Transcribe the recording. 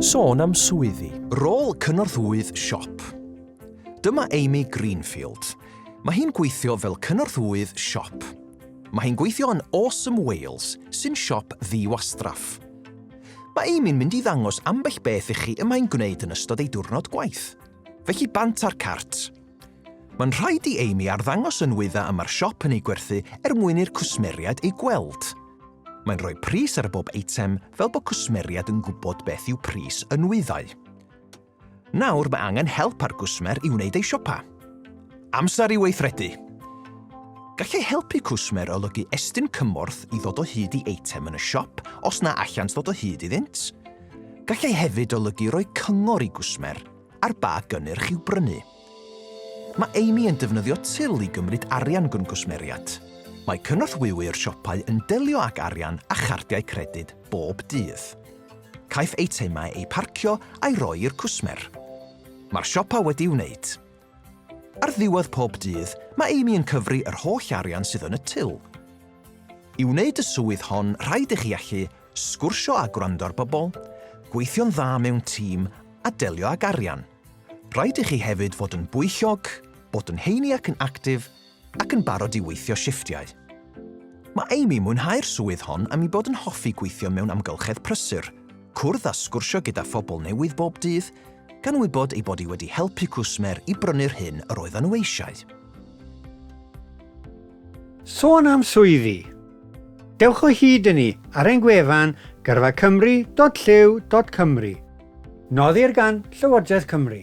Sôn am swyddi. Rôl cynorthwyydd siop. Dyma Amy Greenfield. Mae hi'n gweithio fel cynorthwyydd siop. Mae hi'n gweithio yn Awesome Wales, sy'n siop ddiwastraff. Mae Amy'n mynd i ddangos ambell beth i chi y mae'n gwneud yn ystod ei diwrnod gwaith. Felly bant â'r cart. Mae'n rhaid i Amy arddangos y nwyddau y mae'r siop yn eu gwerthu er mwyn i'r cwsmeriaid eu gweld. Mae'n rhoi pris ar bob eitem fel bod cwsmeriaid yn gwybod beth yw pris y nwyddau. Nawr mae angen help ar gwsmer i wneud ei siopa. Amser i weithredu! Gallai helpu cwsmer olygu estyn cymorth i ddod o hyd i eitem yn y siop os na allant ddod o hyd iddynt. Gallai hefyd olygu rhoi cyngor i gwsmer Ar ba gynnyrch i'w brynu? Mae Amy yn defnyddio til i gymryd arian gan gwsmeriaid. Mae cynorthwywr siopau yn delio ag arian a chardiau credyd bob dydd. Caiff eitemau eu parcio a'i roi i'r cwsmer. Mae'r siopa wedi'i wneud. Ar ddiwedd pob dydd, mae Amy yn cyfri yr holl arian sydd yn y til. I wneud y swydd hon, rhaid i chi allu Sgwrsio a gwrando ar bobl, gweithio'n dda mewn tîm a delio ag arian. Rhaid i chi hefyd fod yn bwyllog, bod yn heini ac yn actif, ac yn barod i weithio shifftiau. Mae Amy mwynhau'r swydd hon am ei bod yn hoffi gweithio mewn amgylchedd prysur, cwrdd a sgwrsio gyda phobl newydd bob dydd, gan wybod ei bod hi wedi helpu cwsmer i brynu'r hyn yr oeddan nhw eisiau. Sôn am swyddi, Dewch o hyd i ni ar ein gwefan gyrfacymru.llyw.cymru. Nodir gan Llywodraeth Cymru.